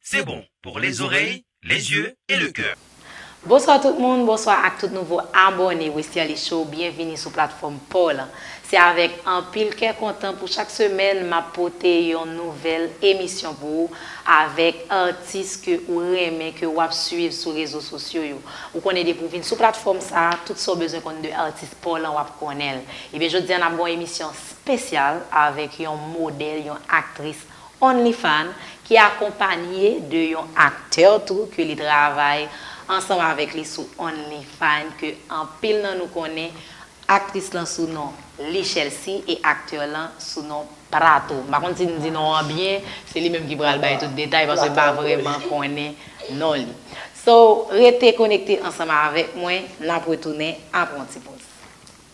C'est bon pour les oreilles, les yeux et le cœur. Bonswa tout moun, bonswa ak tout nouvo abòne Westerlie Show, byenvini sou platfòm paw lan. Se avèk anpil kè kontan pou chak semèn map pote yon nouvèl emisyon pou ou avèk atis ke ou renmen ke wap swiv sou rezo sosyo yo. Ou konnen depi ou vin sou platfòm sa, tout sa ou bezwen konn de atis paw lan wap konnenl. Ebyen jodi an nap gen yon emisyon spesyal avèk yon modèl, yon aktris OnlyFan, ki akonpanye de yon aktè tou ke li travay ansanm avèk li sou OnlyFan ke anpil nan nou konnen, aktris lan sou non Lichelsea e aktè lan sou non Prato. M pa konn si m di non an byen, se li menm ki pral bay tout detay paske m pa vrèman konnen non li. So, rete konekte ansanm avèk mwen, n ap retounen apre yon ti poz.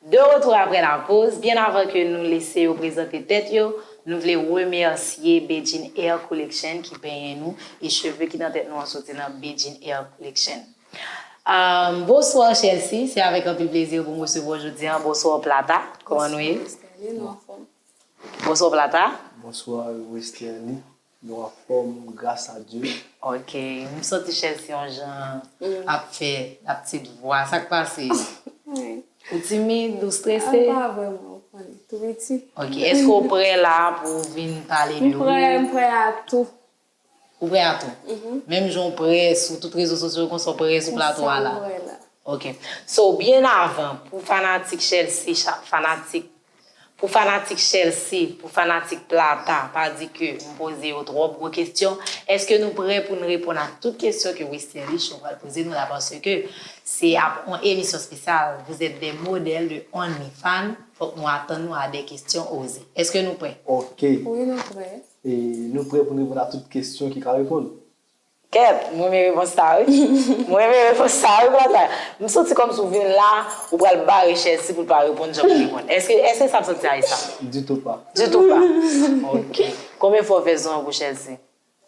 De retou apre lapoz, byen avan ke nou lese yo prezante tèt yo, nou vle remèsye Bedjine Hair Collection ki penyen nou e cheve ki nan tèt nou an soti nan Bedjine Hair Collection. Bonsoir Chelsea, se avèk anpil plezi pou m resevwa w jodi an. Bonsoir Plata, kòman nou ye? Bonsoir Westerlie, nou anfòm? Bonsoir Plata. Bonsoir Westerlie. Nou anfòm gras a Dye. Ok m santi chèz yon jan ap fè ap tit vwa sak pase ou timid ou strese? An pa vrèman ou konnen tou piti. Ok eske ou prè la pou ou vin pale de ou? M prè m prè a tou. Ou prè a tou? Menm jan ou prè sou tout rezo sosyo konsa ou prè sou plato a la? Konsa m prè la. Ok so byen avan pou fanatik chèlsi fanatik Pou fanatik Chelsea, pou fanatik Plata, pa di ke m poze yo twòp gwo kesyon, eske nou prè pou n reponn ak tout kesyon ke Westin Richo pral poze nou la paske se ap on emisyon spesyal Vous êtes des modèles de Only Fan, fòk nou atann nou a des questions osées. Eske nou prè? Ok. Wi nou prè. E nou prè pou n reponn a tout kesyon ki ka reponn. Kèt, m renmen repons sa wi. M renmen repons sa wi Plata. M santi kòmsi w vin la, ou pral bare Chelsea pou l pa reponn jan pou reponn. Èske sa w santi a e sa? Ditou pa. Ditou pa. Ok. Konbyen fwa w fè zon an pou Chelsea?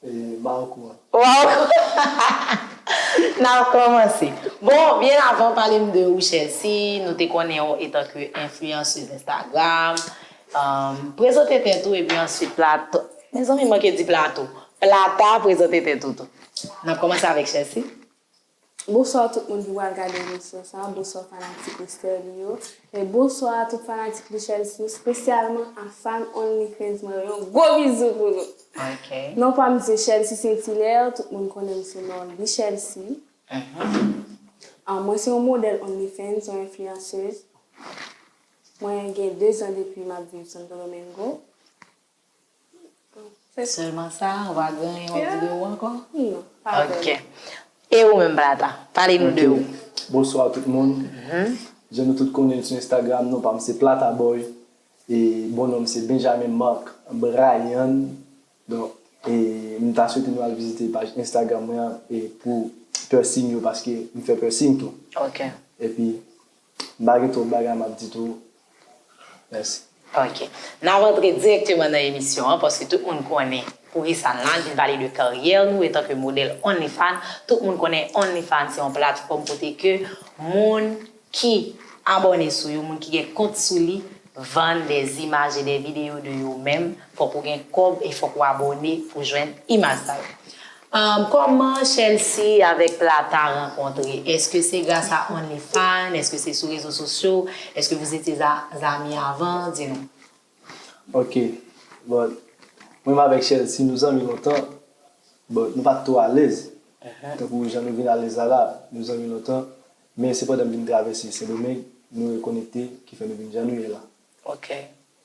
E ba ou kouran. Ou ba ou kouran. N ap kòmanse. Bon, byen avan pale m de ou Chelsea, nou te konnen w etanke enfliyanseuz Instagram. Prezante tèt ou epi answit plato. Mezanmi m manke di plato. Plata prezante tèt ou tou. N ap kòmanse avèk Chelsea. Bonswa tout moun ki pral gade emisyon sa a, bonswa fanatik Mister Lee yo, e bonswa a tout fanatik Lee Chelsea, espesyalman a Fan Only Fans mwen yo, yon gwo bizou pou nou! Non pa m se Chelsea Saint Hilaire, tout moun konnen m sou non Lee Chelsea. Mwen se yon modèl Only Fans, yon enfliyanseuz. Mwen gen 2 zan depi map viv Santo Domingo. Sèlman sa, ou pa gen yon lòt videyo ankò? Non, pa gen. Ok. E ou menm Plata? Pale nou de ou. Bonswa tout moun. Jan nou tout konnen sou Instagram non pa m se Plataboy e bon non m se Benjamin Marc Bryan. Donk e m ta swete nou al vizite paj Instagram mwen an e pou piercing yo paske m fè piercing tou. Ok. Epi. M pa gen twòp bagay m ap di tou. Mèsi. Ok. N ap antre dirèkteman nan emisyon an paske tout moun konnen poukisa n la, vin pale de karyè nou etanke modèl OnlyFan. Tout moun konnen OnlyFan se yon platfòm kote ke moun ki abòne sou yo, moun ki gen kont sou li, vann dè imaj e dè videyo de yo menm. Fòk ou gen kòb e fòk ou abòne pou jwenn imaj sa yo. Kòman Chelsea avèk Plata rankontre? Eske se gras a Only Fan? Eske se sou rezo sosyo? Eske vous étiez amis avant? Di nou. Ok Bon Mwen menm avèk Chelsea nou zanmi lontan Bon nou pat twò alèz tankou jan nou vin alèz la la Nou zanmi lontan Men se pandan m vin travèse Sendomeng nou rekonekte ki fè nou vin jan nou ye la Ok.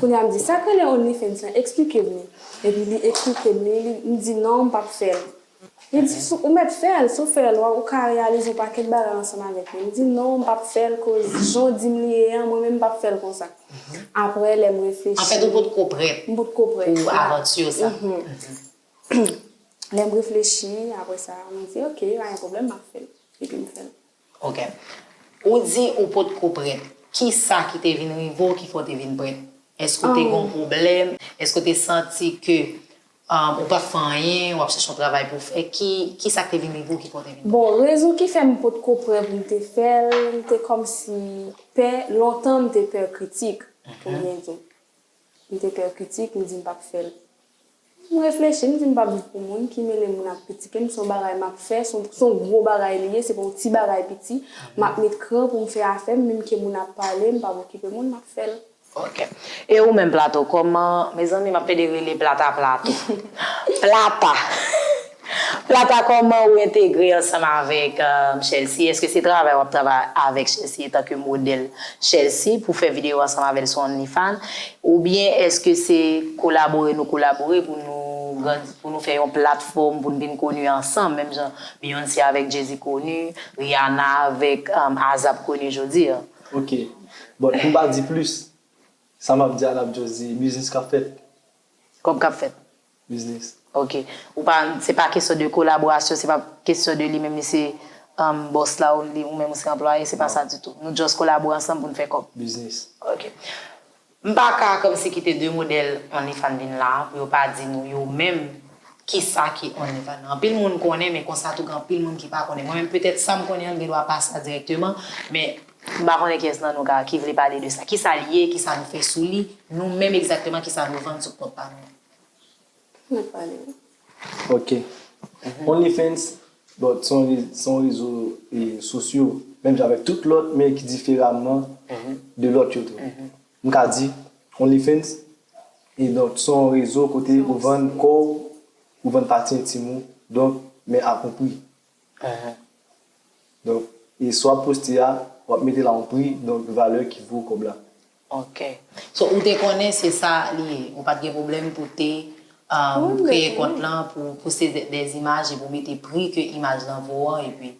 Kounya m di sak rele onlyfans lan eksplikem li epi li eksplikem li m di non m pap fèl li di sou ou mèt fèl sou fèl wa ou ka reyalize yon pakèt bagay ansanm avèk li m di non m pap fèl koz jan w dim li ye an mwen menm m pap fèl konsa aprè lèm reflechi anfèt ou potko prèt m potko prèt pou avanture sa lèm reflechi aprè sa mwen di ok pa gen pwoblèm map fèl epi m fèl. Ok. Ou di ou potko prèt. Kisa ki te vin rive w ki fè w te vin prèt? Èske ou te gen yon pwoblèm? Èske ou te santi ke ou pap fè anyen, w ap chèche yon travay pou w fè? Kisa ki te vin rive w ki fè w te vin prèt? Bon, rezon ki fè m potko prè pou m te fè l, m te kòmsi pè, lontan m te pè kritik, pou byen di. M te pè kritik, m di m pap fè l. M reflechi, m di m pap viv pou moun, ki mele moun ap kritike m, s on bagay m ap fè, s on gwo bagay li ye, se pa yon ti bagay piti. M ap met kran pou m fè afè m, menm ke moun ap pale, m pap okipe moun, m ap fè l. Ok. E ou menm Plato, kòman, mezanmi m ap pede rele Plata Plato. Plata! Plata kòman ou entegre ansanm avèk Chelsea eske se travay wap travay avèk Chelsea etanke modèl Chelsea pou fè video ansanm avèl sou onlyfan oubyen eske se kolabore nou kolabore pou nou grandi pou nou fè yon platfòm poun vin koni ansanm menm jan Beyoncé avèk Jay-Z koni Rihanna avèk ASAP koni jodi an. Ok bon poum pa di plis sa map di a nap just di biznis kap fèt. Kòb kap fèt. Biznis. Ok. Ou pa, se pa kesyon de kolaborasyon, se pa kesyon de li menm li se boss la ou li ou menm ou se anplwaye, se pa sa ditou. Nou just kolabore ansanm pou n fè kòb. Biznis. Ok. M pa ka kòmsi kite 2 modèl Onlyfans vin la pou yo pa di nou yo menm ki sa ki Onlyfans nan. Anpil moun konnen men konsa tou gen anpil moun ki pa konnen. Mwen menm petèt sa m konnen an m gen dwa pa sa dirèkteman men m pa konnen kiyès nan nou ka ki vle pale de sa. Ki sa l ye, ki sa nou fè sou li, nou menm egzakteman ki sa nou vann sou kont pa nou an. Mwen pale wi. Ok. Only fans but son rezo sosyo menm jan avèk tout lòt men ki diferaman de lòt yo tou. M ka di only fans e donk son rezo kote ou vann kò w, ou vann pati entim ou donk men ak yon pri. Donk e sa w ap poste a, w ap mete la yon pri donk valè ki vo kòb la. Ok. So ou te konnen se sa li ye. Ou pat gen pwoblèm pou te kreye kont lan pou pouste des images epi ou mete pri ke imaj lan vo an epi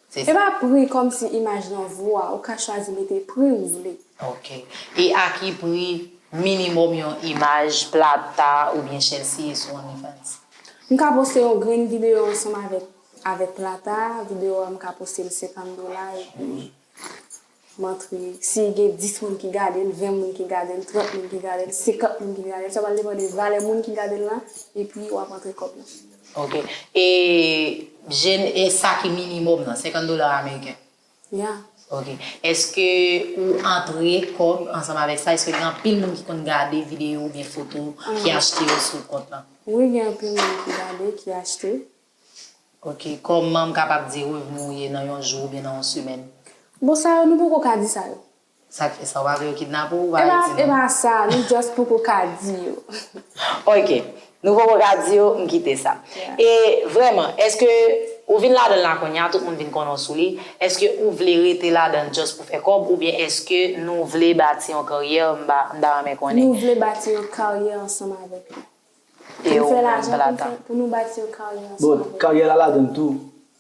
se sa. Se pa pri kòmsi imaj lan vo a. Ou ka chwazi mete pri ou vle. Ok. E a ki pri minimòm yon imaj Plata oubyen Chelsea ye sou OnlyFans? M ka poste yon grenn videyo ansanm avèk avèk Plata, videyo a m ka poste l 50 dola epi. M antre, si gen 10 moun ki gade l, 20 moun ki gade l, 30 moun ki gade l, 50 moun ki gade l, sa pral depann de valè moun ki gade l la, epi w ap antre kòb la. Ok. E jèn, e sa ki minimòm nan, 50 dola ameriken? Ya. Ok. Èske ou antre kòb ansanm avèk sa? Èske gen anpil moun ki konn gade videyo oubyen foto ki achte yo sou kont lan? Wi, gen anpil moun ki gade, ki achte. Ok, kòman m kapab di revni ou ye nan yon jou oubyen nan yon semèn? Bon sa yo nou poko ka di sa yo. Sak fè sa, ou pa vle yo kidnape w ou pa vle di nou? E pa sa, nou just poko ka di yo. Ok, nou poko ka di yo, m kite sa. E vrèman, eske ou vin ladan l la kounya, tout moun vin konnen w sou li, eske ou vle rete ladan l just pou fè kòb oubyen eske nou vle bati yon karyè, m ta renmen konnen? Nou vle bati yon karyè ansanm avèk li. Pou nou fè lajan, pou nou fè, pou nou bati yon karyè ansanm avèk. Bon, karyè la ladann tou,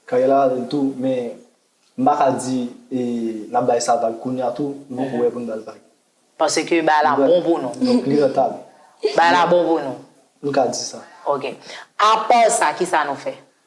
karyè la ladann tou, men m pa ka di n ap bay sa vag kounye a tou, m poko wè pou n ba l vag. Paske bagay la bon pou nou. Donk li rantab. Bagay la bon pou nou. Nou ka di sa. Ok. Apa sa, kisa nou fè?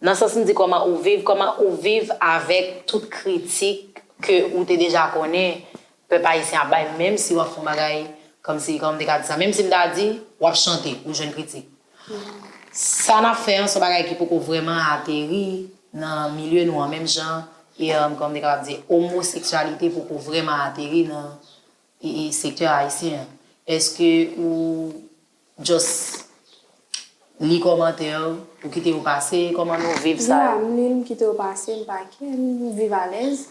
Nan sans m di kòman ou viv, kòman ou viv avèk tout kritik ke ou te deja konnen pèp ayisyen ap bay menm si w ap fon bagay kòm si, kòman m te ka di sa, menm si m ta di w ap chante ou jwenn kritik. Sa n ap fè an s on bagay ki poko vrèman ateri nan milye nou an menm jan e kòman m te kapab di omoseksyalite poko vrèman ateri nan sektè ayisyen an. Eske ou. Just Li kòmantè yo ou kite yo pase kòman nou viv sa yo. Dila m li l m kite yo pase m pa kè m viv alèz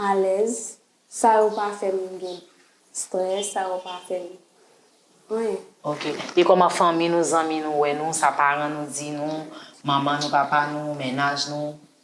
alèz sa yo pa fè m gen strès sa yo pa fè m anyen. Ok e kòman fanmi nou zanmi nou wè nou sa paran nou di nou manman nou papa nou mennaj nou.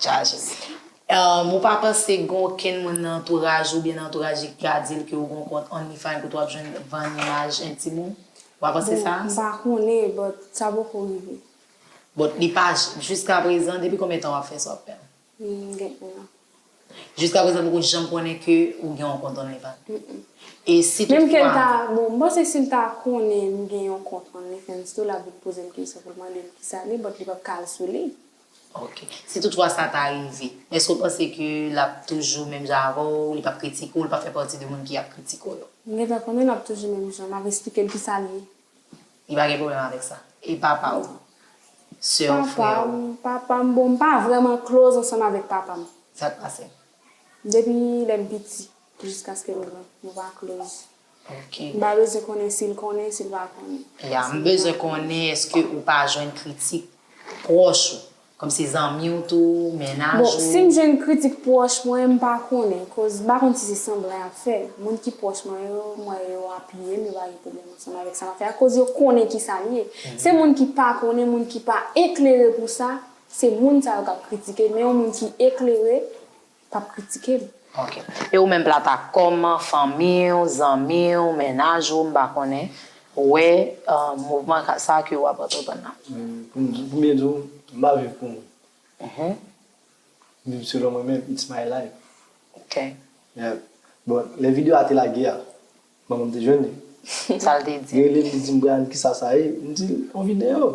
chaje. Ou pa panse gen okenn moun nan antouraj oubyen nan antouraj li ki ka di l ke ou gen yon kont OnlyFans kote w ap jwenn vann imaj entim ou? Ou pa panse sa? Bon, m pa konnen, but sa poko rive. But li pa, jiskaprezan, depi konbyen tan w ap fè sa w ap fè l? M gen 1 an. Jiskaprezan poko janm konnen ke ou gen yon kont OnlyFans? M m. E si tout fwa. Menm ke l ta, bon, m panse si l ta konnen m gen yon kont OnlyFans tou l ap vin poze m kesyon pou l mande m kisa li, but li p ap ka al sou li. Ok. Si tout fwa sa ta rive, èske ou panse ke l ap toujou menm jan avè w, li p ap kritike w, li p ap fè pati de moun ki ap kritike w yo? M gentan konnen l ap toujou menm jan, m ap esplike l kisa l ye. Li pa gen pwoblèm avèk sa? E papa w? Sè w, frè w? Papa m, papa m, bon m pa vrèman close ansanm avèk papa m. Sa k pase? Depi lè m piti, jiskaske m gran, nou pa close. M pa bezwen konnen si l konnen, si l pa konnen. Ya, m bezwen konnen eske ou pa jwenn kritik pwòch ou, kòm se zanmi w tou, mennaj ou. Bon, si m jwenn kritik pwòch mwen, m pa konnen, koz m pa konn si se sanblan y ap fè. Moun ki pwòch mwen yo, m wè yo apiye m, yo pa gen pwoblèm ansanm avèk sa m ap fè a, koz yo konnen ki sa l ye. Se moun ki pa konnen, moun ki pa eklere pou sa, se moun sa yo k ap kritike, men yon moun ki eklere, Pap kritike l. Ok. E ou menm Plata, kòman fanmi w, zanmi w, mennaj ou, m pa konnen, wè mouvman sa a ke ou ap antreprann nan? Pou byen di w, m pa viv pou moun. M viv selon mwen menm, it's my life. Ok. Yeah. Bon, lè video a te lage a, manman m te jwenn li. Sa l te di? Li rele m, li di m, Bryan, kisa sa ye? M di l, yon video.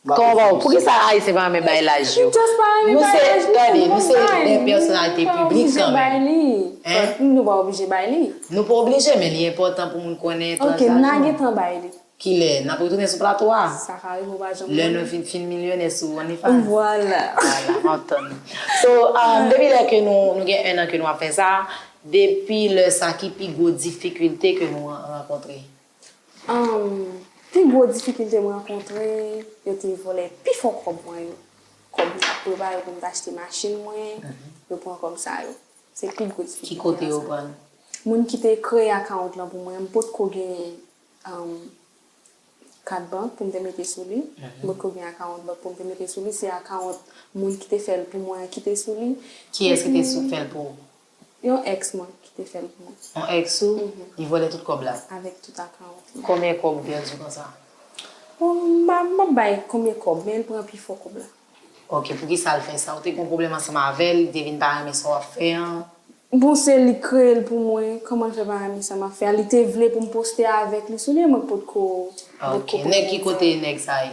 Koman ba ou? Poukisa Ayisyen pa renmen bay laj yo? Nou se, tande, nou se de pèsonalite piblik kan menm. Hein? Nou pa oblije bay li. Nou pa oblije men li enpòtan pou moun konnen tranj laj nou. Ok, n'a gentan bay li. Kilè? N'ap retounen sou plato a? Sa ka rive ou pa janm konnen. Lè nou fin fin milyonè sou OnlyFans. Vwala. Vwala, m'ap tann ou. So, depi lè ke nou, nou gen 1 an ke nou ap fè sa, depi lè sa ki pi gwo difikilte ke nou rankontre? Humm pi gwo difikilte m rankontre yo te vòlè pi fò kòb mwen yo kòb m tap prepare pou m t achte machin mwen yo pran kòb sa yo se pi gwo difikilte ki kote yo pran l moun ki te kreye account lan pou mwen m potko genyen humm kat bank pou m te mete sou li m potko gen account bank pou m te mete sou li se account moun ki te fè l pou mwen an ki te sou li kiyès ki te sou fè l pou ou. Yon ex mwen ki te fèm knnen. Yon ex ou li vòlè tout kòb la. Avèk tout akawont li. Konbyen kòb ou pèdi konsa? Bon m pa map bay konbyen kòb men l pran pi fò kòb la. Ok poukisa l fè sa? Ou te gon pwoblèm ansanm avèl, li te vin pa renmen sa wap fè an? Bon se li k kreye l pou mwen, kòman l fè pa renmen sa map fè a? Li te vle pou m poste avèk li sou li e mwen k potko potko pran l nan zòrèy. Ok nèg ki kote nèg sa ye?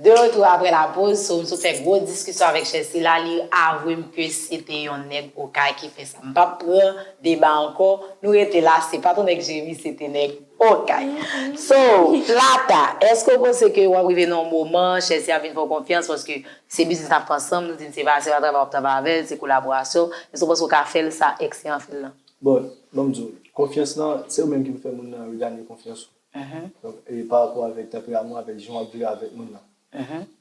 De retou apre la poz, so m sot fè gwo diskisyon avèk chè sila, li avwe m ke se te yon nèg okay ki fè sa. M pap pran deba ankò, nou rete la, se pat yon nèg Jeremi, se te nèg. Okay. So, Plata, eske ou panse ke wap rive nan yon moman, Chelsea ap vin fè w konfyans paske se biznis nap fè ansanm, nou di se pa se pa travay wap travay avè l, se kolaborasyon, eske ou panse ou ka fè l sa Excien an fè l lan? Bon, ban m di w, konfyans lan, se ou menm ki pou fè moun nan regane konfyans ou. Donk, e pa rapò avèk tanperamon, avèk jan wap viv avèk moun nan.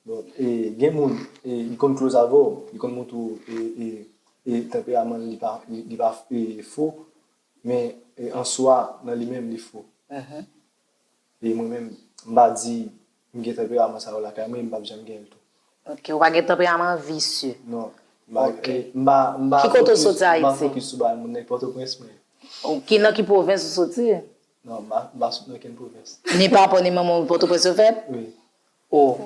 Bon, e gen moun, e li konn close avè w, li konn montre w e e e tanperaman li pa li pa e fo, Men an swa nan li menm li fo. E mwen menm m pa di m gen tanperaman sa yo lakay mwen e m pap janm gen l tou. Ok, ou pa gen tanperaman visye. Non. Ok. M pa fokis. Ki kote ou soti Ayiti? M pa fokis sou Bani, moun nèg Pòtoprens mwen. Ok, nan ki pwovens ou soti? Non, m pa sot nan okenn pwovens. Ni papa ou ni manman ou Pòtoprens yo fèt? Wi. Oh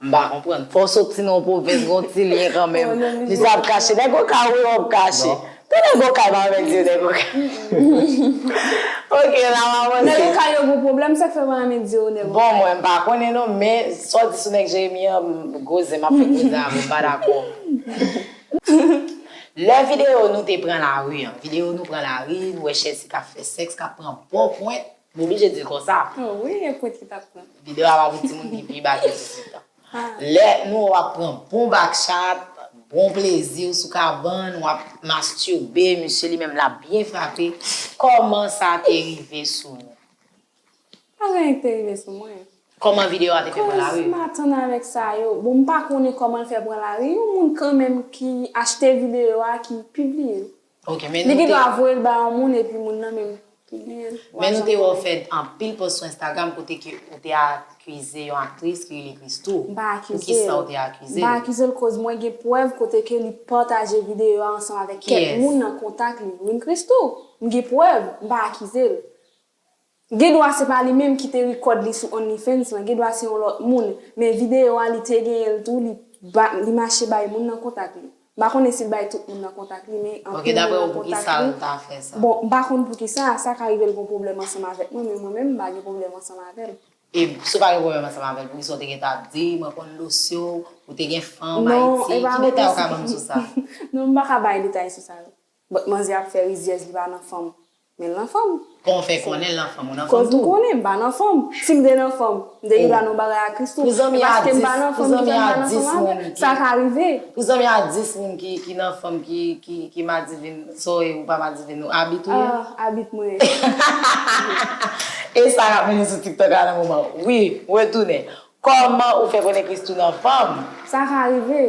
m pa konprann. Fò w soti nan yon pwovens gon ti lyen kanmenm. Misye ap kache. Nèg okay ou yo ap kache. Tout nèg okay pa renmen di yo nèg okay. Ok la m avanse. Nèg okay yo gon pwoblèm sak fè yo pa renmen di yo nèg okay. Bon mwen m pa konnen non men sa w di sou nèg Jeremi an m gwo zen m ap fè gwo zen avè w m pa dakò. Lè video nou te pran lari an. Video nou pran lari nou wè Chelsea k ap fè sèks k ap pran bon pwent. M oblije di l konsa. Oh wi e pou ti tap pran. Video a pa pou timoun ki pi ba ke 18 an. Lè nou wap pran bon back chat, bon plezi ou sou kabann wap masturbe misye li menm lap byen frape kòman sa te rive sou nou? Pa gen anyen ki te rive sou mwen. Kòman video a te fè pran lari? Koz m atann avèk sa yo. Bon m pa konnen kòman l fè pran lari, yon moun kanmenm ki achte video a ki pibliye l. Li gen dwa voyel ba yon moun epi moun nan menm ki genyen l. Men nou te wè w fè anpil post sou Instagram kote ke ou te akize yon aktris ki rele Christoo. M pa akize l. Poukisa ou te akize l? M pa akize l koz mwen gen prèv kote ke li pataje videyo a ansanm avèk kèk moun nan kontak li. Wi m Christoo. M gen prèv. M pa akize l. Gen dwa se pa li menm ki te record li sou onlyfans lan, gen dwa se yon lòt moun, men video a li te genyen l tou li li mache bay moun nan kontak li. M pa konnen si l bay tout moun nan kontak li men anpil moun nan kontak li. Ok daprè ou poukisa l ta fè sa? Bon m pa konn poukisa, sa ka rive l gon pwoblèm ansanm avèk mwen men mwen menm m pa gen pwoblèm ansanm avè l. E si w pa gen pwoblèm ansanm avè l poukisa w te gentan ap di mwen konn Locio, ou te gen fanm Ayiti, ki detay ou ka banm sou sa? Non m pa ka bay detay sou sa yo. But manzè ap fè rizyèz li pa nan fanm men l nan fanm. Kon w fè konnen l nan fanm ou nan fanm tou. Koz m konnen m pa nan fanm. Si m te nan fanm m te rive a nan bagay a Christoo. E paske m pa nan fanm ki fè m pa nan fanm avè l. Sa ka rive. Pou zanmi a 10 moun ki nan fanm ki madivin so e ou pa madivin ou abit ou ye? Ah abit mwen ye. E sa k ap mennen sou tiktok la nan moman. Wi, retounen. Kòman ou fè konnen Christoo nan fanm? Sa ka rive.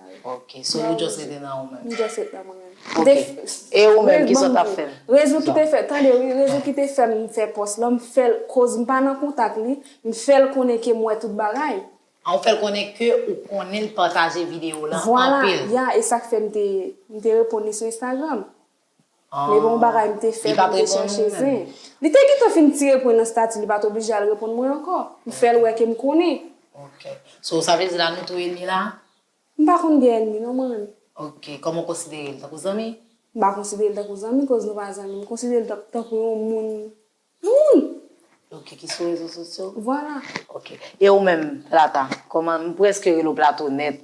Ok, so ou just rete nan ou menm. M just rete nan mwen menm. Ok, e ou menm ki sa w tap fè? Rezon ki te fè, tande wi, rezon ki te fè m fè pòs lan, m fè l koz m pa nan kontak li, m fè l konnen ke m wè tout bagay. Ah ou fè l konnen ke ou konnen l pataje video lan anpil. Vwala, ya, e sak fè m te reponn li sou Instagram. Me bon bagay m te fè pou m te chèche zen. Li te gentan fin tire pwen nan stati li pat oblije al reponn mwen ankò. M fè l wè ke m konnen. Ok. So sa vle di la nou tou enmi la? M pa konn gen enmi non man. Ok. Kòman w konsidere l? Tankou zanmi? M pa konsidere l tankou zanmi koz nou pa zanmi. M konsidere l tankou yon moun. Moun! Ok, ki sou rezo sosyo. Vwala. Ok. E ou menm, Plata, kòman, m prèske rele w Plato nèt,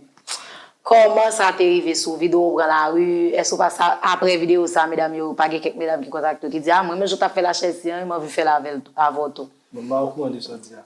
kòman sa te rive sou vide w ou pran lari, èske ou pa sa, aprè videyo sa, medam yo, pa gen kèk medam ki kontakte w ki di, a, m renmen jan w t ap fè lachèz si an e m anvi fè l avè l tou, avè w tou? Bon, m pa okouran de sa w di a.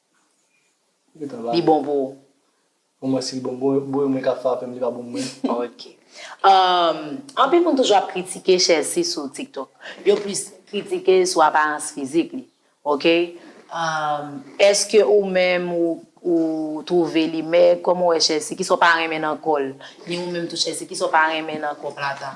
Li bon pou ou? Pou mwen si li bon pou mwen, mwen ka frape m li pa bon pou mwen. Ok. Anpil moun toujou ap kritike Chelsea sou TikTok. Yo plis kritike l sou aparans fizik li. Ok. Eske ou menm ou twouve li mèg? Kòman ou wè Chelsea? Kisa ou pa renmen nan kò l? Ni ou menm tou Chelsea, kisa ou pa renmen nan kò Plata?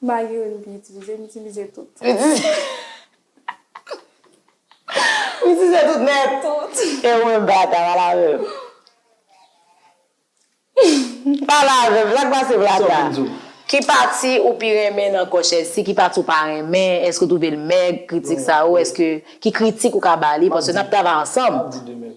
Magi wi m pi itilize, m itilize tout. M itilize M itilize tout nèt. Tout. E ou menm Bata, pale avè m. Pale avè m, sa k pase Bata? Sa w vin di w? Ki pati ou pi renmen nan kò Chelsea, ki pati ou pa renmen, èske w twouve l mèg, kritik sa yo, èske, ki kritik ou ka ba li, paske n ap travay ansanm. M ap di de mèt.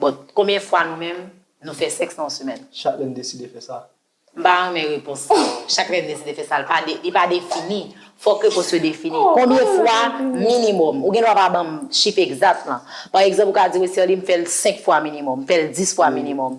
Bon, konbyen fwa nou menm nou fè sèks nan yon semèn? Chak lè n deside fè sa. M pa renmen repons sa yo. Chak lè n deside fè sa, li pa defini. Fòk repons yo defini. Konbyen fwa minimòm? Ou gen dwa pa ban m chif egzat lan. Pa egzanp, ou ka di, Westerlie, m fè l senk fwa minimòm. M fè l dis fwa minimòm.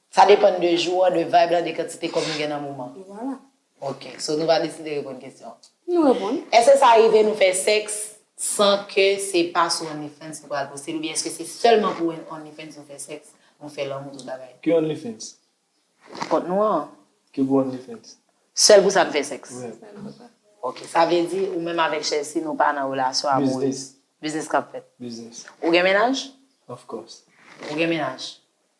Sa depann de jou an, de vibe la, de kantite kòb nou gen nan moman. E vwala. Ok. So nou va deside reponn kesyon an. Nou reponn. Èske sa rive nou fè sèks san ke se pa sou OnlyFans nou pral poste l oubyen èske se sèlman pou OnlyFans nou fè sèks, nou fè lanmou, tout bagay? Ki OnlyFans? Kont nou an. Ki gwo OnlyFans? Sèl pou sa n fè sèks? Wi. Sa n fè pa. Ok. Sa vle di ou menm avèk Chelsea nou pa nan relasyon amourez? Biznis. Biznis k ap fèt? Biznis. Ou gen mennaj? Of course. Ou gen mennaj?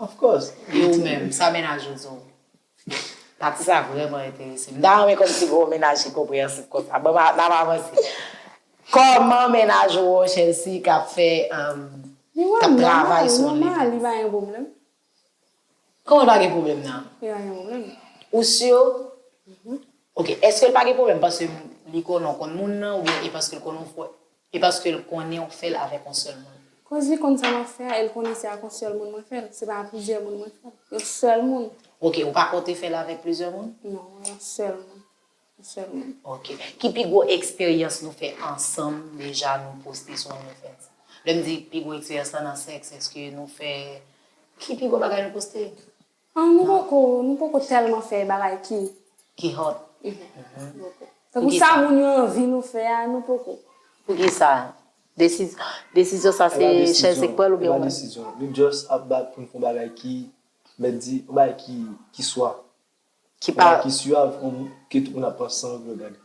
Of course. E ou menm, sa mennaj ou di w? Pati sa vrèman enterese m. M ta renmen kòmsi gen yon mennaj ki konpreyansib konsa. Bon, n ap avanse. Kòman mennaj ou an, Chelsea, k ap fè, k ap travay sou yon liv? Li pa gen pwoblèm. Kòman l pa gen pwoblèm nan? Li pa gen pwoblèm. Ou si? Ok. Èske l pa gen pwoblèm paske li konnen w konn moun nan oubyen e paske l konnen w fò? E paske l konnen w fè l avèk yon sèl moun. Koz li konn sa m ap fè a e l konnen se ak yon sèl moun mwen fè l, se pa a plizyè moun mwen fè l. Yon sèl moun. Ok, ou pa konte fè l avèk plizyè moun? Non, yon sèl moun. Yon sèl moun. Ok. Ki pi gwo eksperyans nou fè ansanm deja nou poste sou OnlyFans? Lè m di pi gwo eksperyans la nan sèks, èske nou fè. Ki pi gwo bagay nou poste? An nou poko nou poko tèlman fè bagay ki ki hot tankou sa moun yo anvi nou fè a nou poko. Poukisa? Desizyon sa se chèz li k pranl oubyen ou menm? Epa desizyon, nou just ap bat poun fon bagay ki mèt di, yon bagay ki swa. Ki pa. Kòman ki suave kon ke tout moun ap pran sanw pou yo gade.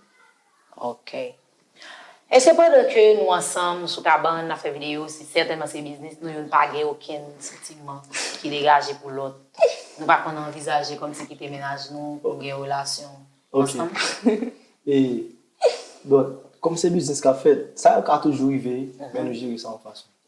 Ok. Eske pandan ke nou ansanm sou kabann nap fè video se sètènman se biznis nou youn pa gen okenn santiman ki degaje pou lòt? Nou pa konn anvizaje kòmsi kite mennaj nou pou gen relasyon ansanm? Ok. E bon, kòm se biznis kap fèt, sa yo ka toujou rive men nou jere sa yon fason.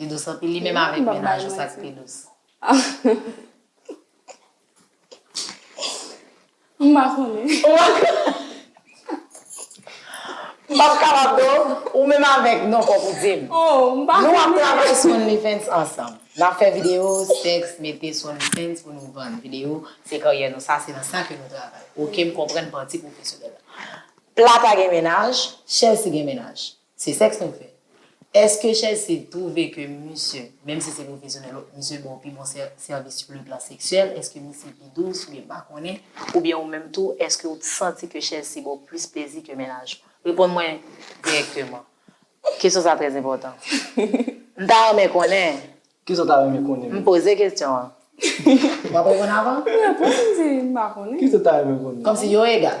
Li dous anpil li menm avèk mennaj ou sak pi dous. M pa konnen. M pap kapab non. Ou menm avèk non fòk ou dim. Oh m pa konnen. Nou ap travay sou OnlyFans ansanm. Nap fè video sèks mete sou OnlyFans pou nou vann video se karyè nou sa se nan sa ke nou travay ok m konprann pati pwofesyonèl la. Plata gen mennaj, Chelsea gen mennaj. Se sèks nou fè. Eske Chelsea twouve ke misye, menm si se pwofesyonèl, misye ba w pi bon sèvis sou le plan seksyèl? Eske misye pi dous oubyen m pa konnen? Oubyen ou menm tou, eske ou santi ke Chelsea ba w plis plezi ke mennaj ou? Reponn mwen dirèkteman. Kesyon sa trè enpòtan. M ta renmen konnen. Kisa w ta renmen konnen? M poze kesyon an. W ap reponn avan? Reponn m di m pa konnen. Kisa w ta renmen konnen? Kòmsi yo egal?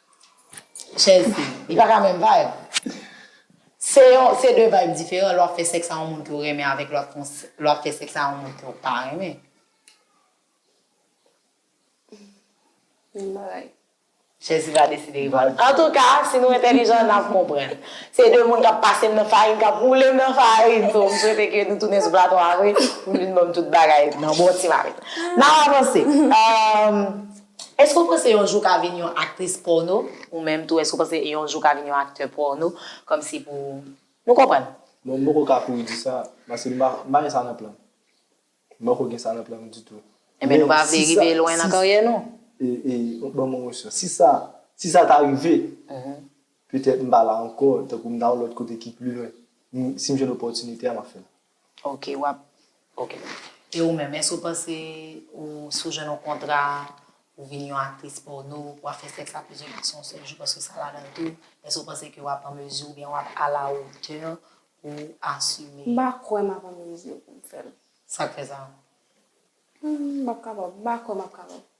Chèz li. Li pa ka menm vayb. Se yon, se de vayb diferan lè w ap fè sèks a yon moun ke w renmen avèk lè w ap fè sèks a yon moun ke w pa renmen. Menm bagay. Chèz li pa deside reponn. Antouka, si nou entèlijan, n ap konprann. Se de moun k ap pase m nan farin, k ap woule m nan farin. So, m swete ke nou tounen sou plato a vre pou m vin ban m tout bagay nan bon ti marenn. N ap avanse. Èske ou panse yon jou w ka vin yon aktris pòno? Ou menm tou, èske ou panse yon jou w ka vin yon aktè pòno? Kòmsi pou nou konprann. Bon, m poko ka kouri di sa, paske m pa gen sa nan plan m. M poko gen sa nan plan m ditou. Enben, nou pa vle rive lwen nan karyè nou? E, e, ban m yon opsyon. Si sa, si sa ta rive, petèt m pa la ankò, tankou m ta yon lòt kote ki pi lwen. Si m jwenn opòtinite a, m ap fè l. Ok wap ok e ou menm èske ou panse ou si ou jwenn yon kontra pou vin yon aktris pòno pou wap fè sèks a plizyè gason yon sèl jou paske sa ladan tou èske ou panse ke wap an mezi oubyen wap a la otè pou ou asime. M pa kwè map an mezi pou m fèl. Sak fè sa? M pap kapab m pa kwè map kapab.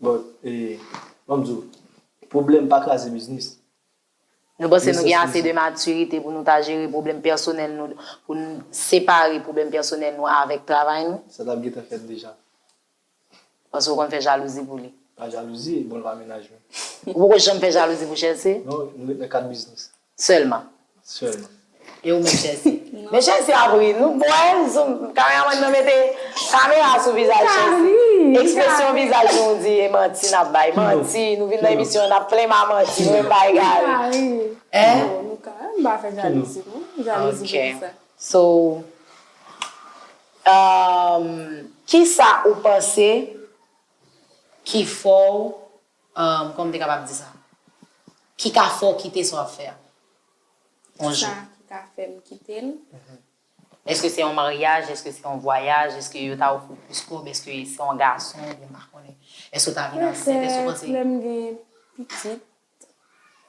But banm di w pwoblèm pa kraze biznis. Nou panse nou gen ase de matirite pou nou ta jere pwoblèm pèsonèl nou pou n separe pwoblèm pèsonèl nou avèk travay nou? Sa tap gentan fèt deja. Paske w konn fè jalouzi pou li. Pa jalouzi, bon l pa menaj mwen. Ou poko janm fè jalouzi pou Chelsea? Non, nou ret nan kad biznis. Sèlman. Sèlman. E ou menm Chèlsi? Men Chèlsi ap ri. Nou bon e? Zoom, kameramann nan mete kamera sou vizaj Chèlsi. Ekspresyon vizaj nou ou di e manti n ap bay. Manti. Nou vin nan emisyon an n ap plen m a manti. Nou menm bay gari. Nou ka ri. E? Nou ka. M pa fè jalouzi non. Jalouzi pou ki sa? Ok. So, kisa ou panse ki fè w Umm kòman m te kapab di sa? Ki ka fè w kite sa w ap fè a? Yon jou. Kisa ki ka fè m kite l? Eske se yon maryaj, eske se yon vwayaj, eske yo ta ofri w plis kòb, eske se yon gason oubyen m pa konnen. Eske w ta vin ansent, eske w panse. Petèt lè m gen pitit,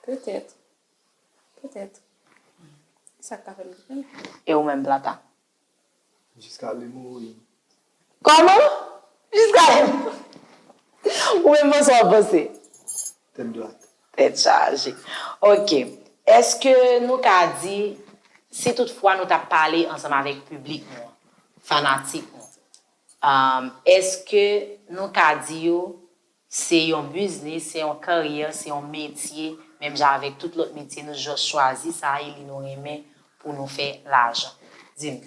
petèt, petèt. Se sa k ka fè m kite l. E ou menm Plata? Jiska lè mwen mouri. Kòman? Jiska lè mwen mouri. Ou menm bon sa w ap panse? Tèt dwat. Tèt chaje. Ok. Èske nou ka di, si tout fwa nou t ap pale ansanm avèk piblik nou an, fanatik nou, èske nou ka di yo Se yon biznis, se yon karyè, se yon metye, menm jan avèk tout lòt metye nou just chwazi sa e li nou renmen pou nou fè lajan. Di m.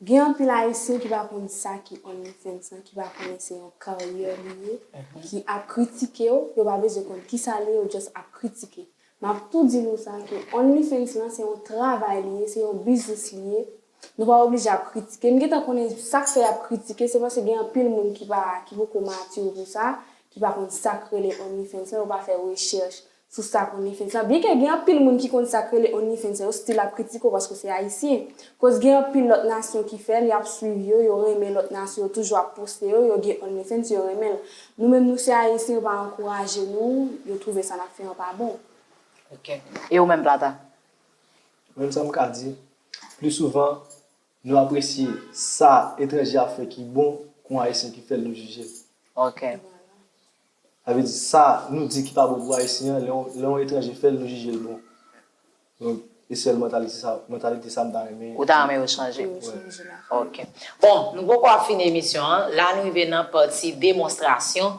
Gen anpil ayisyen ki pa konn sa ki OnlyFans lan, ki pa konnen se yon karyè li ye, ki ap kritike w, yo pa bezwen konn kisa li ye, yo just ap kritike. M ap tou di nou sa ke OnlyFans lan se yon travay li ye, se yon biznis li ye, Nou pa oblije ap kritike. M gentan konnen sak fè yap kritike se paske gen anpil moun ki pa ki poko mature pou sa, ki pa konn sak rele onlyfans lan, yo pa fè rechèch sou sak onlyfans lan. Byenke gen anpil moun ki konn sak rele onlyfans lan, yo still ap kritike w paske w se ayisyen. Koz gen anpil lòt nasyon ki fè l, yap swiv yo, yo renmen lòt nasyon, yo toujou ap poste yo, yo gen onlyfans, yo renmen l. Nou menm nou se ayisyen yo pa ankouraje nou, yo twouve sa nap fè an pa bon. Ok. E ou menm Plata? Menm sa m ka di, pli souvan, nou apresye sa etranje ap fè ki bon kon Ayisyen ki fè l nou jije l. Ok. Sa vle di, sa nou di ki pa bon pou Ayisyen an, lè yon etranje fè l nou jije l bon. Donk, e sèl mantalite sa, mantalite sa m ta renmen. Ou ta renmen yo chanje. Ok. Bon, nou poko ap fini emisyon an. La n rive nan pati demonstrasyon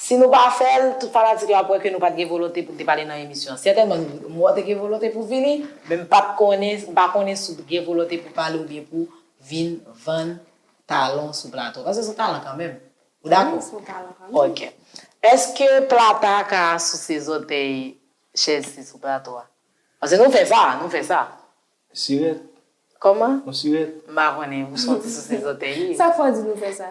Si nou pa fè l, tout fanatik la ap wè ke nou pat gen volonte pou n te pale nan emisyon an. Sètènman nou m wè w te gen volonte pou w vini, men m pat konnen, m pa konnen si w te gen volonte pou w pale oubyen pou w vin vann talan w sou plato a. Paske s on talan kanmenm. Ou dakò? Wi, s on talan kanmenm. Ok. Eske Plata ka souse zòtèy Chelsea sou plato a? Paske nou fè sa, nou fè sa. Sirèt. Kòman? On sirèt. M pa konnen, ou sòti souse zòtèy li. Sa k fè w di nou fè sa?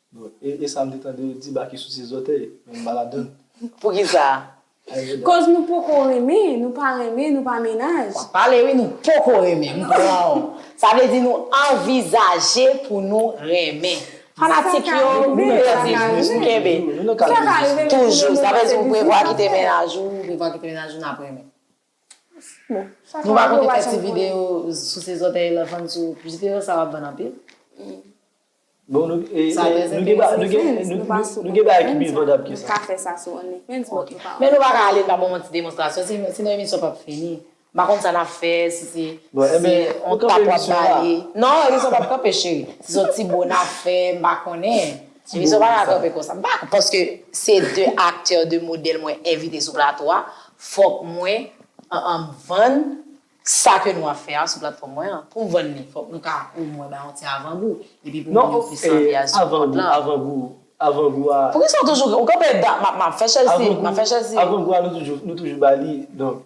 Bon e e sam te tande yo di baky souse zòtèy men m pa ladann. Poukisa? Koz nou poko renmen, nou pa renmen, nou pa mennaj. Wap pale wi nou poko renmen m pranw sa vle di nou anvizaje pou nou renmen fanatik yo pèdi bouch kenbe toujou sa vle di ou prevwa kite mennaj ou ou prevwa kite mennaj ou nap renmen. Nou pa konte fè ti video sou se zòtèy la fann sou video sa wap vann anpil. Bon nou gen bagay ki pi vandab ke sa. Nou ka fè sa sou only fans but nou pa. Men nou pa ka ale nan moman ti demonstrasyon sinon emisyon pap fini. M pa konn sa nap fè si se on tap wap bale. Non emisyon pap kanpe cheri. Si son ti bo nap fè m pa konnen. Ti bò wè sa. M pa konn paske se 2 aktè 2 modèl mwen envite sou plato a fòk mwen vann sa ke nou ap fè a sou platfòm mwen an. Pou m vann li fòk nou ka o mwen bay yon ti avan gou epi pou moun yo plis anvi al sou kont lan. Avan gou avan gou a. Poukisa ou toujou ou konpè dat m ap fè chèlsi m ap fè chèlsi. Avan gou a nou toujou ba li donk.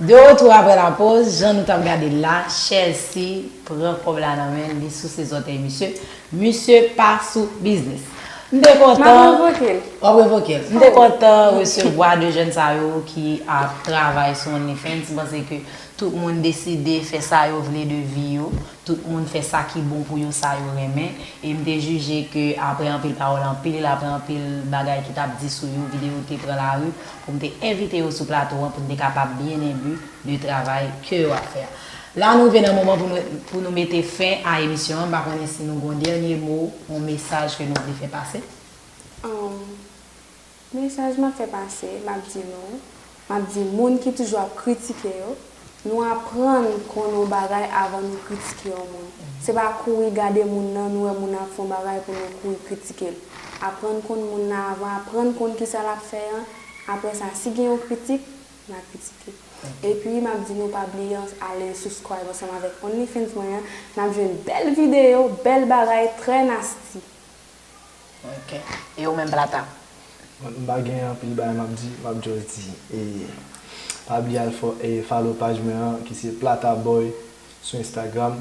De retour aprè la poz, jan nou tap gade l la, Chelsea pran kòb la nan men l, li souse zòtèy misye, misye pa sou biznis. M te kontan, wap revoke l, m te kontan resevwa 2 jèn sa yo ki ap travay sou OnlyFans, m panse ke tout moun deside fè sa yo vle de vi yo, tout moun fè sa ki bon pou yo, sa yo renmen, e m te jije ke aprè anpil pawòl, anpil, aprè anpil bagay ki tap di sou yo, video te pran lari. pou m te envite yo sou plato an pou n te kapab byen enbi de travay ke yo ap fè a. La nou rive nan moman pou nou pou nou mete fen a emisyon an, m pa konnen si nou gen yon dènye mo, yon mesaj ke nou vle fè pase. Umm. Mesaj m ap fè pase, m ap di nou, m ap di moun ki toujou ap kritike yo, Nou aprann konnen yon bagay avan nou kritike yon moun. Se pa kouri gade moun nan, nou wè moun nan ap fè yon bagay pou nou kouri kritike l. Aprann konn moun nan avan, aprann konn kisa l ap fè an, aprè sa si gen yon kritik, na kritike. Epi m ap di nou pa bliye ale subscribe ansanm avèk onlyfans mwen an, n ap jwenn bèl videyo, bèl bagay, trè nasty. Ok e ou menm plata? M pa gen anpil bagay map di map just di e pa bliye al follow paj mwen an ki se plataboy sou instagram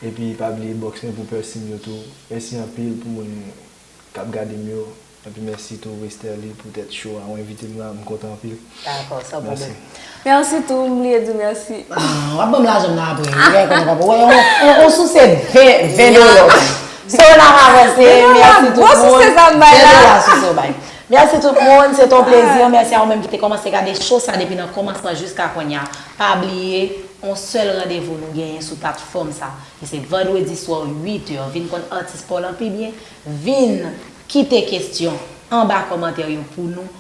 epi pa bliye box mwen pou pè sim yo tou mèsi anpil pou moun kap gadem yo epi mèsi tou westerlie pou tèt cho a ou envitem la m kontan anpil. Dakò san pwoblèm. Merci tou m bliye diw merci. Ahh wap banm lajanm nan aprè wi lè konn wap wè yon on souse 20 dollars bay. So nap avanse merci tout moun 20 dollars souse ou bay. Merci tout moun se te yon plezi an merci a ou menm ki te kòmanse gade show sa depi nan kòmansman jiska konnya pa bliye on sèl randevou nou genyen sou platfòm sa ki se vandredi swa 8 heures vin konn atis paw lan pi byen vin kite kesyon anba kòmantè yo pou nou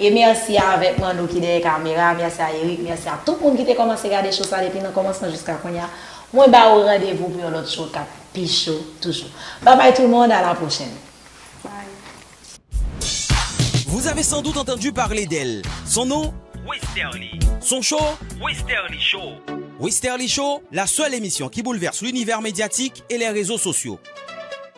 E merci a avèk Manno ki dèyè kamera, merci a Erick, merci a tout moun ki te kòmanse gade show sa depi nan kòmansman jiska kounya. Mwen ba ou randevou pou yon lòt show kap pi cho toujou. Bye bye tout moun, a la prochèn. Vous avez sans doute entendu parler d'elle, son nom, Westerlie, son show, Westerlie Show, Westerlie Show, la seule émission qui bouleverse l'univers médiatique et les réseaux sociaux.